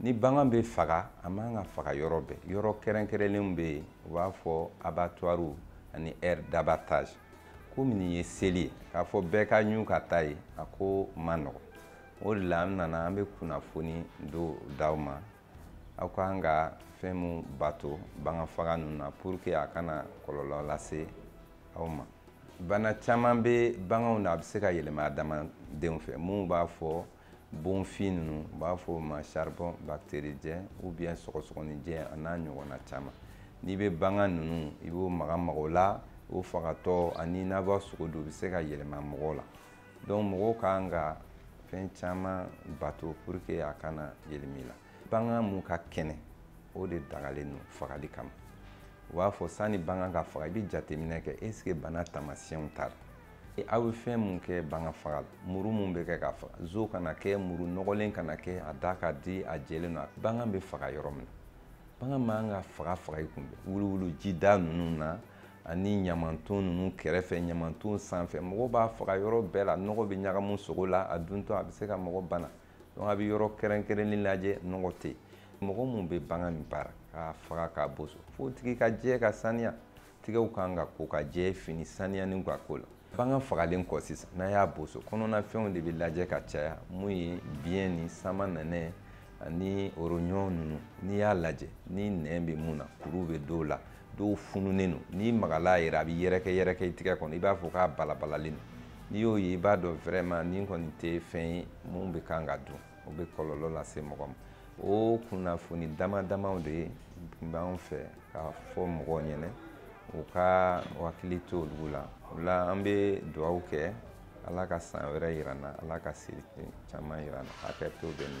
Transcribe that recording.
ni bagan bɛ faga a man ka faga yɔrɔ bɛɛ yɔrɔ kɛrɛnkɛrɛnlenw bɛ yen u b'a fɔ abattoirs ani aire d'abattage komi nin ye seli ye k'a fɔ bɛɛ ka ɲu ka taa yen a ko man nɔgɔn o de la an nana an bɛ kunnafoni do d'aw ma aw kan ka fɛn mun bato bagan faga ninnu na pour que a kana kɔlɔlɔ lase aw ma bana caman bɛ baganw na a bɛ se ka yɛlɛma adamadenw fɛ minnu b'a fɔ bonfin ninnu u b'a fɔ o ma charbon bactéridien ou bien sɔgɔsɔgɔninjɛ a n'a ɲɔgɔnna caman n'i bɛ bagan ninnu i b'o maga maga o la o fagatɔ ani n'a b'a sogo dun u bɛ se ka yɛlɛma mɔgɔw la donc mɔgɔw kan ka fɛn caman bato pour que a kana yɛlɛma i la bagan mun ka kɛnɛ o de dagalen don fagali kama u b'a fɔ sanni bagan ka faga i bɛ jateminɛ kɛ est ce que bana taamasiyɛnw t'a la aw bɛ fɛn mun kɛ bagan faga la muru mun bɛ kɛ k'a faga zo kana kɛ muru nɔgɔlen kana kɛ a da ka di a jɛlen don bagan bɛ faga yɔrɔ min na bagan man ka faga faga i kunbɛn wuluwulu jida ninnu na ani ɲamanton ninnu kɛrɛfɛ ɲamanton sanfɛ mɔgɔ b'a faga yɔrɔ bɛɛ la nɔgɔ bɛ ɲagamu sogo la a duntɔ a bɛ se ka mɔgɔ bana donc a bɛ yɔrɔ kɛrɛnkɛrɛnlen lajɛ nɔgɔ tɛ yen mɔgɔ mun bɛ bagan min baara k'a faga k'a boso f'o tigi ka jɛ ka saniya tigɛw kan ka ko ka jɛ fini saniyalen ka k'o la bagan fagalen kɔ sisan n'a y'a boso kɔnɔnafɛnw de bɛ lajɛ ka caya mun ye biyɛn ni samanɛnɛ ani rognon ninnu n'i y'a lajɛ ni nɛn bɛ mun na kuru bɛ dɔw la dɔw fununen don n'i magala yɛrɛ a bɛ yɛrɛkɛ yɛrɛkɛ i tigɛ kɔnɔ i b'a fɔ k'a balabalalen don n'i y'o ye i b'a dɔn vraiment nin kɔni tɛ fɛn ye mun bɛ kan ka dun o bɛ kɔlɔlɔ lase mɔgɔ ma o kunnafoni dama damaw de ye tun b'an fɛ k'a fɔ mɔgɔw ɲɛna u ka hakili to olu la o la an bɛ dugawu kɛ ala ka san wɛrɛ yira an na ala ka seli caman yira an na hakɛ to bɛ na